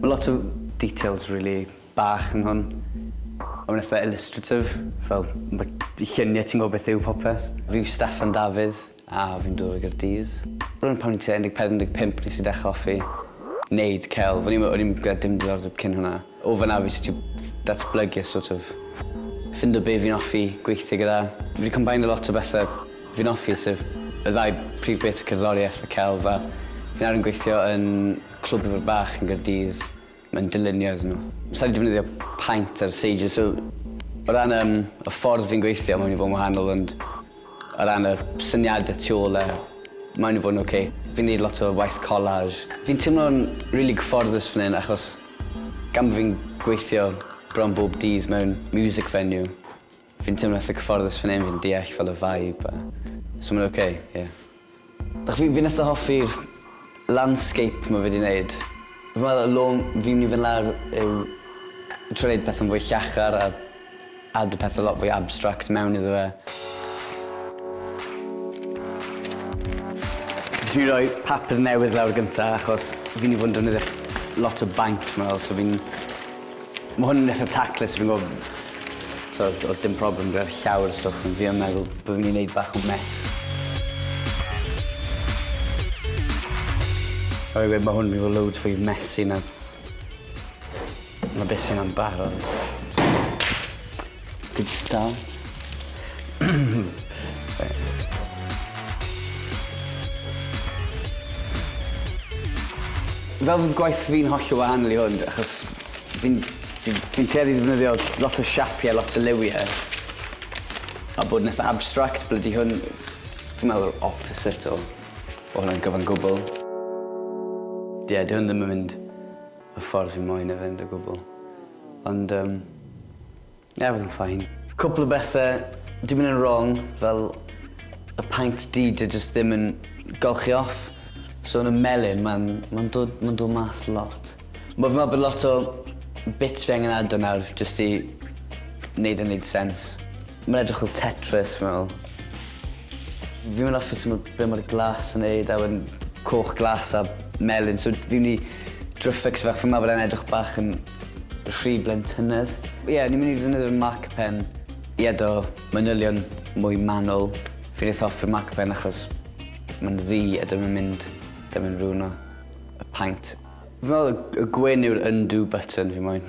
Mae lot o details rili bach yn hwn. Ond mae'n eitha illustrative, fel mae lluniau ti'n gwybod beth yw popeth. Fi yw Steffan Dafydd a fi'n dod o Gaerdydd. Rŵan pan o'n tua 14, 15 nes i dechrau hoffi neud celf. O'n i ddim gyda dim diddordeb cyn hwnna. O fan'na fi jyst 'di datblygu a sort of ffindo be fi'n hoffi gweithio gyda. Fi 'di combeinio lot o bethe fi'n hoffi sef y ddau prif beth, cerddoriaeth a celf a fi nawr yn gweithio yn Clwb Ifor Bach yn Gaerdydd, mae'n dylunio iddyn nhw. Sa i 'di defnyddio paent ar y seidr, so o ran yym y ffordd fi'n gweithio mae'n mynd i fod yn wahanol ond o ran y syniadau tu ôl e mae'n mynd i fod yn ocê. Fi'n neud lot o waith collage. Fi'n teimlo'n rili cyfforddus fan hyn achos gan bo' fi'n gweithio bron bob dydd mewn music venue Fi'n teimlo itha cyfforddus fan hyn, fi'n deall fel y vibe a so ma'n ok, ie. Dach fi fi'n itha hoffi'r landscape ma' fe 'di neud. Fi'n meddwl y long fi'n myn' i fyn' lawr yw trio neud pethe'n fwy llachar a add y pethe lot fwy abstract mewn iddo fe. Nes i roi papur newydd lawr gynta achos fi myn' i fod yn defnyddio lot o baint fi'n meddwl so fi'n Ma' hwn yn itha taclus fi'n gwel' so odd odd dim problem gyda llawer o stwff ond fi yn meddwl bo' fi myn' i neud bach o mess. Ma' rai' weud ma' hwn myn' i fo' loads fwy messy na na be' sy 'na'n barod. Good start. Fel fydd gwaith fi'n hollol wahanol i hwn, achos fi'n fi, fi tueddu ddefnyddio lot o siapiau, lot o liwiau. A bod yn eitha abstract, blydi hwn, fi'n meddwl, opposite o, o hwnna'n gyfan gwbl. Ie, yeah, di hwn ddim yn mynd y ffordd fi'n moyn e fynd o gwbl. Ond yym, ie odd e'n fine. Cwpl o bethe 'di myn' yn rong fel y paent du 'di e jyst ddim yn golchi off. So yn y melyn ma'n ma'n dod ma'n dod mas lot. Ma' fi'n me'wl bod lot o bits fi angen ado nawr jyst i neud e neud sense. Mae'n edrych fel Tetris fi'n meddwl. Fi'n mynd off o sut ma' be' ma'r glas yn neud a wedyn coch glas a melyn so fi'n myn' i trio fficsio fe achos ma' fe'n edrych bach yn rhy blentynnedd. Ie o'n i'n myn' i ddefnyddio'r marker pen i edo manylion mwy manwl. Fi'n eitha off 'da marker pen achos ma'n ddu a dim yn mynd dim yn rwno y paent. Fi'n meddwl y gwyn yw'r undo button fi moyn.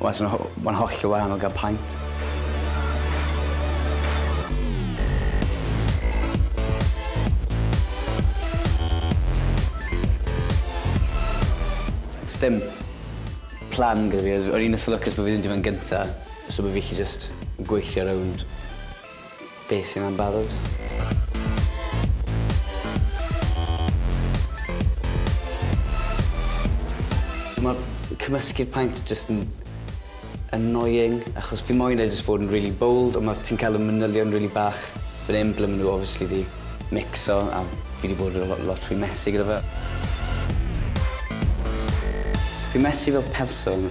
Wel so ho- mae'n hollol wahanol gan paent. Sdim plan gyda fi. O'n i'n itha lwcus bo' fi ddim 'di fyn gynta so bo' fi 'llu jyst gweithio rownd Beth sy'n am barod? Ma'r cymysgu'r paent jyst yn annoying achos fi moyn e jyst fod yn rili bold ond ma' ti'n cael y manylion rili bach fan 'yn ble ma' nw obviously 'di micso a fi 'di bod yn lo- lot rhy messy gyda fe. Fi'n messy fel person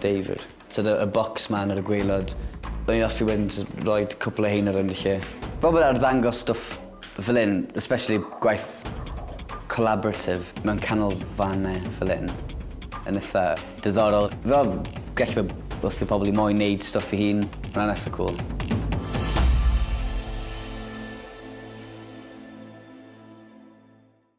David. Sort of y bocs man ar y gwaelod. O'n i'n offi wedyn jys roid cwpl o rheina rownd y lle. Fel bod arddangos stwff fel 'yn, especially gwaith collaborative mewn canolfannau fel 'yn, yn itha diddorol. Fel gell fe wrth i pobl i moyn neud stwff i hun. Ma' wnna'n itha cwl.